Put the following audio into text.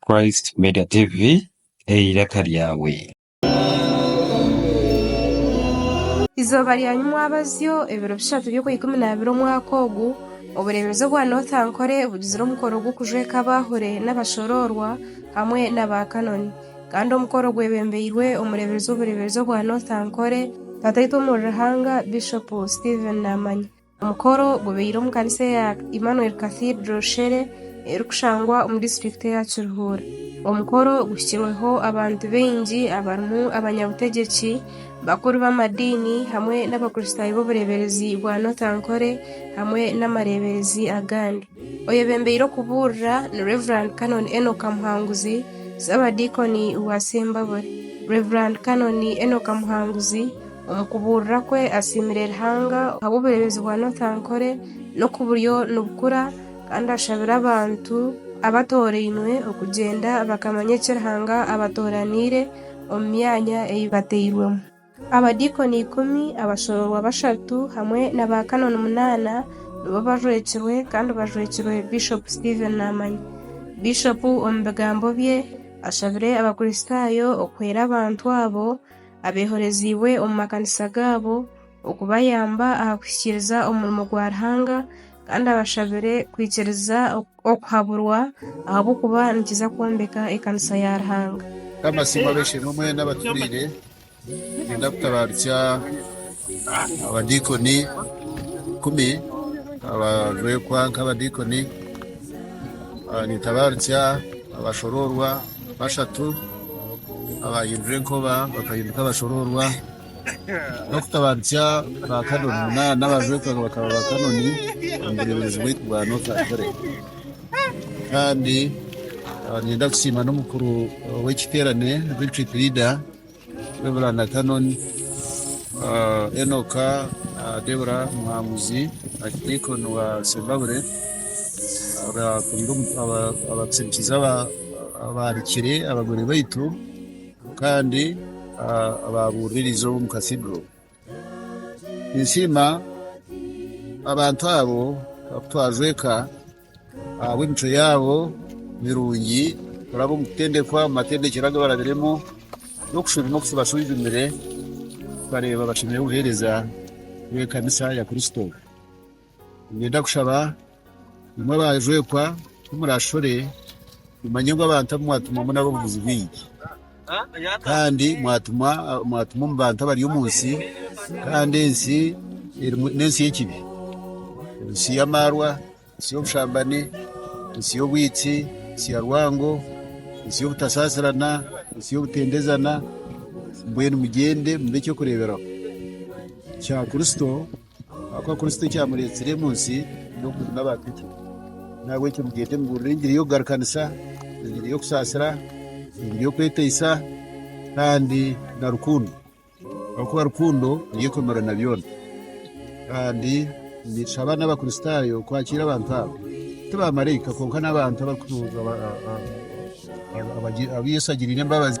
Christ Media TV, eiraka ryawe. Eizooba rya nyimwabazyo, ebiro bishatu by'okwa ikumi n'abiri omwaka ogu, obureebezi obwa North Ankole bugizire omukoro gw'okujweka abaahure n'abashoroorwa hamwe n'aba Canon. Kandi omukoro gwebembeirwe omureeberezi w'obureeberezi obwa North Ankole, Tataitwe Omuri Ruhanga, Bishop Stephen Namanya. Omukoro gubaire omu kanisa eya Emmanuel Cathedral Shere erikushangwa omu disiturikiti eya Kiruhura. Omukoro guhikirweho abantu baingi abarimu abanyabutegyeki, bakuru b'amadiini hamwe n'abakristaayo b'obureeberezi bwa North Ankole hamwe n'amareeberezi agandi. Oyebembeire okubuurira ni Rev. Canon Enock Muhanguzi, Ssaabadiikoni wa Sembabule. Rev. Canon Enock Muhanguzi omu kubuurira kwe asiimire Ruhanga ahabw'obureebezi bwa North Ankole n'oku buriyo nibukura kandi ashabire abantu abatoorainwe okugyenda bakamanya eki Ruhanga abatooraniire omu myanya ei bateirwemu. Abadiikoni ikumi, abashoroorwa bashatu, hamwe na ba kanoni munaana nibo bajwekirwe kandi bajwekirwe Bishopu Stephen Naamanya. Bishopu omu bigambo bye ashabire Abakristaayo okuhwera abantu abo abeehoreziibwe omu makanisa gaabo okubayamba aha kuhikiiriza omurimo gwa Ruhanga kandi abashabire kwikiriza Okuhaburwa ahabw'okuba nikiza kwombeka ekanisa ya Ruhanga. Mukama asiimwe ab'eishe-emwe mwena abaturiire. Niinyenda kutabaarutsya abadiikoni ikumi abajwekwa nk'abadiikoni. Nintabaarutsya abashoroorwa bashatu abaahindura enkoba bakahinduka abashoroorwa. n'okutabarutsya ba kanoni munana abajwetwa ngu bakaba ba kanoni omu bureeberezi bwaitu bwa North Atlantic. Kandi ah, ninyenda kusiima n'omukuru w'ekiteerane retreat leader Reverend Canon ah, Enoka ah, Debora Muhanguzi Archdeacon wa Sembabule abakuruire omu- aba- abakusindikiza aba- abaarikire abagore baitu kandi abaabuuririze omu katidro. Ninsiima abantu abo abakutwaza eka ahabw'emicwe yaabo mirungi kuraba omu kutendekwa omu matendekyero agu barabiremu n'okushuruma oku kibashwijumire tukareeba bashemereire kuheereza Ekanisa ya Kristo. Niinyenda kushaba imwe baajwekwa ku murashore mumanye ngu abantu abu mwatumwamu n'ab'obuguzi bwingi kandi mwatumwa mwatumwa omu bantu abari omu nsi kandi ensi erimu n'ensi y'ekibi, ensi y'amaarwa, ensi y'obushambani, ensi y'obwitsi, ensi ya rwango, ensi y'obutasaasirana, ensi y'obutendezana, mbwenu mugyende mube eky'okureeberaho kya Kristo. Ahakuba Kristo ekyamureetsire omu nsi n'okujuna abantu itwe. Nahabwekyo mugyende mubuurire engiri y'okugarukanisa, engiri y'okusaasira, engiri y'okweteisa kandi na rukundo. Ahakuba rukundo niyo ekomera na byona. Kandi nitushaba n'Abakristaayo kwakiira abantu abo. Ti baamaraika kwonka n'abantu abarikutu- aba- aba- aba- aba- aba Yesu agiriire embabazi.